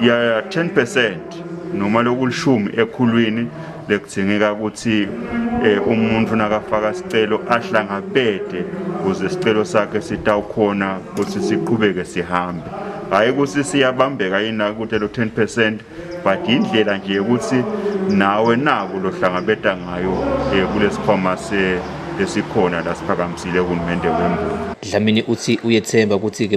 ya 10 percent noma lokulishumi ekhulwini lekudzingeka ukuthi eh, umuntu nakafaka sicelo ahlangabede kuze sicelo sakhe sitawukhona ukuthi siqhubeke sihambe hhayi ukuthi siyabambeka yini ukuthi lo 10 percent but yindlela nje yokuthi nawe naku lohlangabeda ngayo um kulesikhwama esikhona la siphakamisile uhulumende wemboni dlamini uthi uyethemba ukuthi-ke